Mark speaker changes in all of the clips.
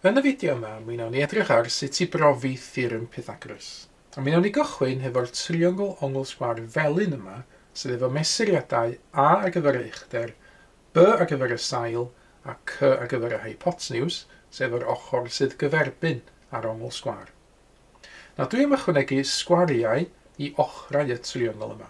Speaker 1: Yn y fideo yma, mi wnawn ni edrych ar sut i brofi theorem Pythagoras. A mi wnawn ni gychwyn hefo'r triongl ongl sgwâr felyn yma, sydd efo mesuriadau A ar gyfer y uchder, B ar gyfer y sail, a C ar gyfer y hypoteniws, sef yr ochr sydd gyferbyn â'r ongl sgwâr. Nawr dwi am ychwanegu sgwariau i ochrau y triongl yma.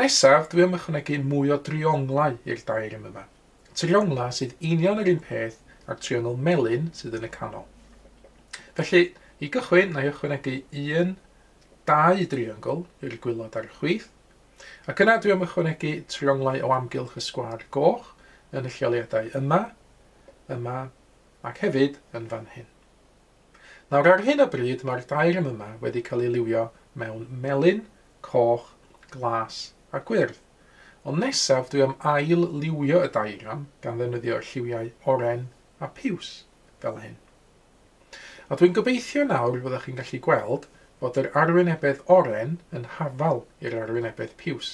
Speaker 1: Nesaf, dwi am ychwanegu mwy o drionglau i'r daearym yma. Trionglau sydd union yr un peth â'r triongl melyn sydd yn y canol. Felly, i gychwyn, na i ychwanegu un, dau driongl i'r gwylod a'r chwith, ac yna dwi am ychwanegu trionglau o amgylch y sgwâr goch yn y lleoliadau yma, yma, ac hefyd yn fan hyn. Nawr ar hyn o bryd mae'r daearn yma wedi cael ei liwio mewn melyn, coch, glas a gwyrdd. Ond nesaf dwi am ail liwio y daearn gan ddefnyddio'r lliwiau oren a piws, fel hyn. A dwi'n gobeithio nawr fyddwch chi'n gallu gweld fod yr arwynebedd oren yn hafal i'r arwynebedd piws.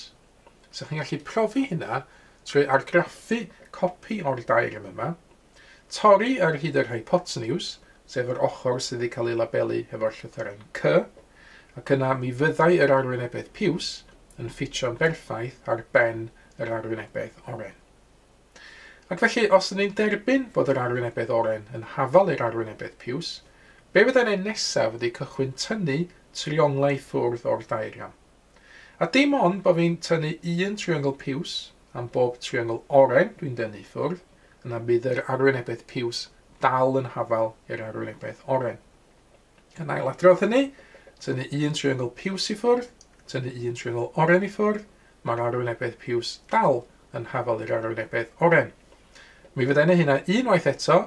Speaker 1: So chi'n gallu profi hynna trwy argraffu copi o'r daearn yma Torri ar hyd yr hypotenws, sef yr ochr sydd wedi cael ei labelu hefo'r llythyren C, ac yna mi fyddai yr arwynebedd piws yn ffitio'n berffaith ar ben yr arwynebedd oren. Ac felly, os ydyn ni'n derbyn bod yr arwynebedd oren yn hafal i'r arwynebedd piws, be fyddai'n ei nesaf ydy cychwyn tynnu trionglau i ffwrdd o'r daeagram. A dim ond bo fi'n tynnu un triongl piws am bob triongl oren dwi'n dynnu i ffwrdd, yna bydd yr arwynebedd piws dal yn hafal i'r arwynebedd oren. Yn ailadrodd hynny, tynnu un triongl piws i ffwrdd, tynnu un triongl oren i ffwrdd, mae'r arwynebedd piws dal yn hafal i'r arwynebedd oren. Mi fydda i'n ei hynna unwaith eto,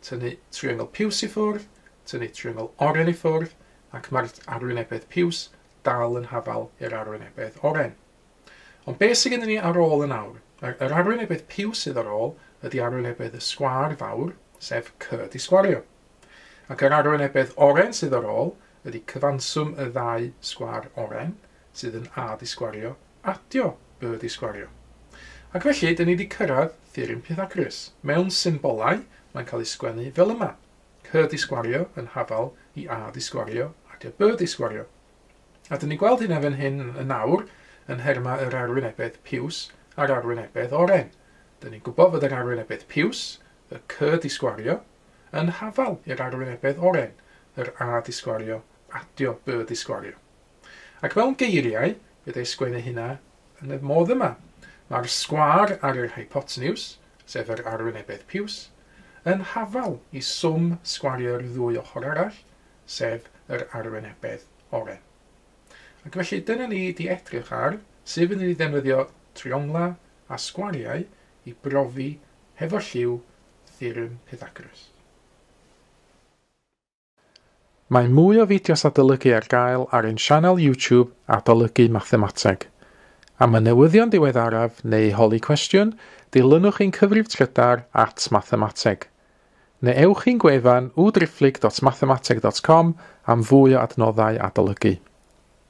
Speaker 1: tynnu triongl piws i ffwrdd, tynnu triongl oren i ffwrdd, ac mae'r arwynebedd piws dal yn hafal i'r arwynebedd oren. Ond be sydd gennym ni ar ôl yn awr? Yr, yr arwynebedd piw sydd ar ôl ydy arwynebedd y sgwâr fawr, sef C di sgwario. Ac yr arwynebedd oren sydd ar ôl ydy cyfanswm y ddau sgwâr oren, sydd yn A di sgwario, adio B di sgwario. Ac felly, dyn ni wedi cyrraedd theorem Pythagoras. Mewn symbolau, mae'n cael ei sgwennu fel yma. Her disgwario yn hafal i A disgwario ac y B disgwario. A dyn ni'n gweld hynna fan hyn yn awr yn nhermau yr arwynebedd piws a'r arwynebedd oren. Dyn ni'n gwybod fod yr arwynebedd piws, y C disgwario, yn hafal i'r arwynebedd oren, yr A disgwario, adio B disgwario. Ac mewn geiriau, fe ddaeth sgwen ei huna yn y modd yma. Mae'r sgwâr ar yr hypoteniws, sef yr arwynebedd piws, yn hafal i swm sgwariau'r ddwy ochr arall, sef yr arwynebedd oren. Ac felly dyna ni di edrych ar sut fyddwn ni ddefnyddio trionglau a sgwariau i brofi hefo lliw theorem Pythagoras. Mae mwy o fideos adolygu ar gael ar ein sianel YouTube Adolygu Mathemateg. Am y newyddion diweddaraf neu i holi cwestiwn, dilynwch ein cyfrif trydar at Mathemateg. Neu ewch i'n gwefan www.driphlyg.mathemateg.com am fwy o adnoddau adolygu.